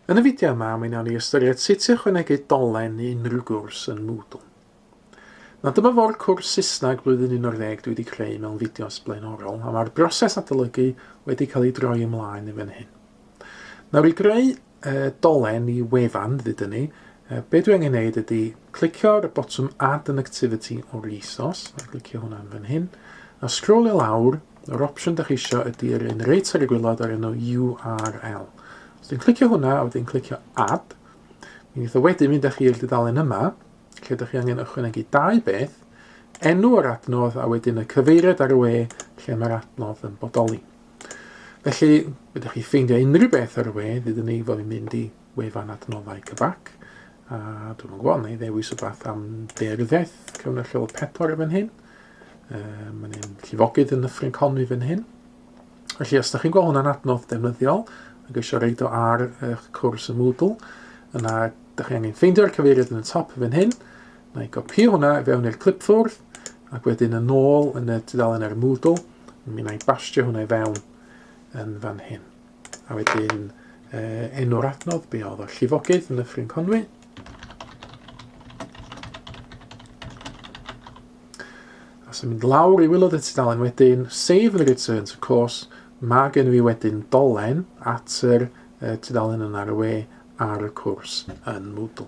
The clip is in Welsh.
Yn y fideo yma, mi wnawn ni ystyried sut i ychwanegu dolen i unrhyw gwrs yn Moodle. Nawr dyma fo'r cwrs Saesneg blwyddyn 11 dwi wedi creu mewn fideos blaenorol, a mae'r broses adolygu wedi cael ei droi ymlaen yn fan hyn. Nawr i greu e, dolen i wefan fyd ni, e, be dwi angen neud ydy clicio ar y botwm Add an Activity o'r ISOs, a clicio hwnna'n fan hyn, a sgrolio lawr, Yr opsiwn da chi isio ydy yr un reit ar y gwylod o'r enw URL. Os dwi'n clicio hwnna a wedyn clicio Add, mi wnaeth o wedyn mynd â chi i'r dudalen yma, lle ydych chi angen ychwanegu dau beth, enw yr adnodd a wedyn y cyfeiriad ar y we lle mae'r adnodd yn bodoli. Felly, ydych chi ffeindio unrhyw beth ar y we, ddydyn ni fod i'n mynd i wefan adnoddau cyfac, a dwi'n gwybod, neu ddewis y bath am deiryddiaeth, cyfnod lleol pedwar yn fan hyn. Um, mae'n un llifogydd yn Nyffryn Conwy fan hyn. Felly, os ydych chi'n gweld hwnna'n adnodd defnyddiol, ac eisiau reid o ar eich cwrs y Moodle, yna ydych chi angen ffeindio'r cyfeiriad yn y top fan hyn, na i gopio hwnna i fewn i'r clip ffwrdd, ac wedyn yn ôl yn y tudalen ar y Moodle, mi na i bastio hwnna i fewn yn fan hyn. A wedyn uh, enw'r adnodd, be oedd o, llifogydd yn Nyffryn Conwy. A sy'n mynd lawr i wylod y tudalen wedyn, save the return to course, mae gen fi wedyn dolen at yr uh, tudalen yna ar y we ar y cwrs yn Moodle.